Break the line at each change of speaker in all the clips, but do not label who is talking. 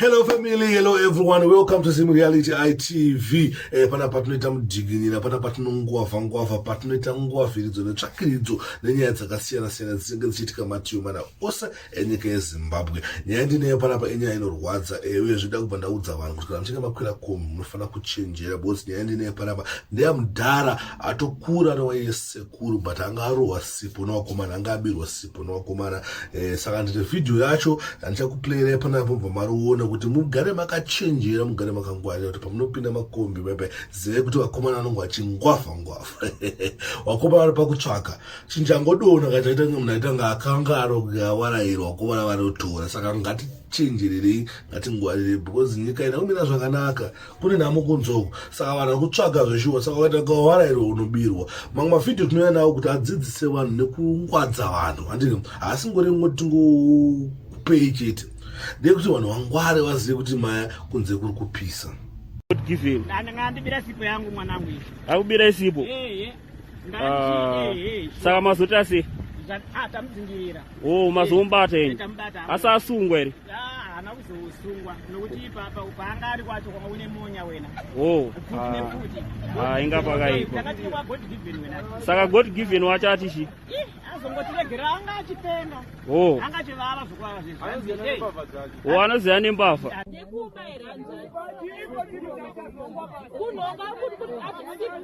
Hello family, hello everyone, welcome to Zim Reality ITV. Eh, pana patinoita mujiginira, pana patinonguava nguava, patinoita nguaviridzo netsvakiridzo nenyaya dzakasiyana siyana dzinenge dzichiitika matiyo mana ose enyika yeZimbabwe. Nyaya ndineyo panapa inyaya inorwadza, eh, uye zvida kubva ndaudza vanhu kuti kana muchinge makwira komu munofanira kuchenjera because nyaya ndineyo panapa ndeya mudhara atokura nowaiye sekuru but anga arohwa sipo newakomana anga abirwa sipo. Pona wakomana eh, saka ndine video yacho yandichakuplayirai panapo bva mariona kuti mugare makachenjera mugare makangwarira kuti pamunopinda makombi bebe zivei kuti vakomana vanonge vachingwavha ngwavha wakomana vari pakutsvaka chinjangodona kachaita kunge munhu aita nga akangaro kuyawarairwa wakomana vanotora saka ngatichenjererei ngatingwarire because nyika ina kumira zvakanaka kune nhamo kunzou saka vanhu vakutsvaga zveshuwa saka ukaita kawara iro unobirwa mamwe mavhidhiyo tinouya nawo kuti adzidzise vanhu nekungwadza vanhu handini haasi ngori mwe tingopei chete ndeyekuti vanhu vangware vazive kuti maya kunze kuri kupisa
akubira isipo
Ah, saka mazoti asi ah, tamudzingirira
o oh,
mazombata ini asi asungwa here haana kuzosungwa
nokuti ipapa paanga ari kwacho kwanga une monya wena o
oh. inga pakaipa
saka god given
wacho ati chii azongotiregera
anga achipenga oh. anga
achivava zvokurara
zvezvoo anoziva
nembavha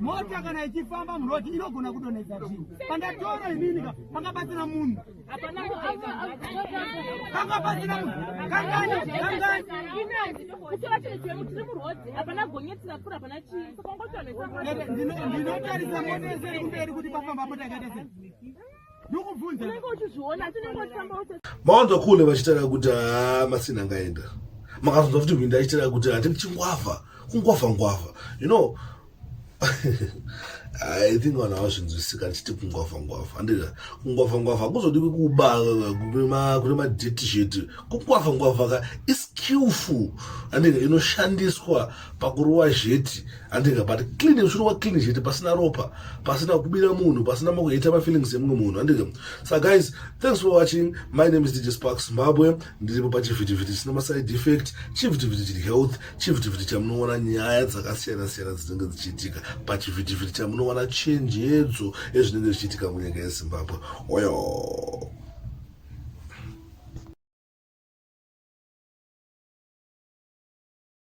mota kana ichifamba muroti inogona kudonhedza zvinhu pandataura inini ka panga pasina munhu panga pasina munhu kangani kangani ndinotarisa mota yese iri kumberi kuti pafamba mota yakaita sei
mawanza kule vachitaura kuti haa masina angaenda makazonzwa futi hwinda achitaura kuti hati ndichingwavha kungwavha ngwavha you know i think vanhu havazvinzwisika ndichiti kungwavha ngwavha andida kungwavha ngwavha kuzodikwi kuba kune madetisheti kungwavha ngwavha ka iskillful andida inoshandiswa pakurowa zheti handinga but clean uchirowa clean zheti pasina ropa pasina kubira munhu pasina makuheta mafeelings emumwe munhu handinga sa guys thanks for watching my name is dj spark zimbabwe ndiripo pachivhitivhiti chisina maside effect chivhitivhiti chiri health chivhitivhiti chamunoona nyaya dzakasiyana siyana dzinenge dzichiitika pachivhitivhiti chamunoona chenjedzo ezvinenge zvichiitika munyika yezimbabwe oyo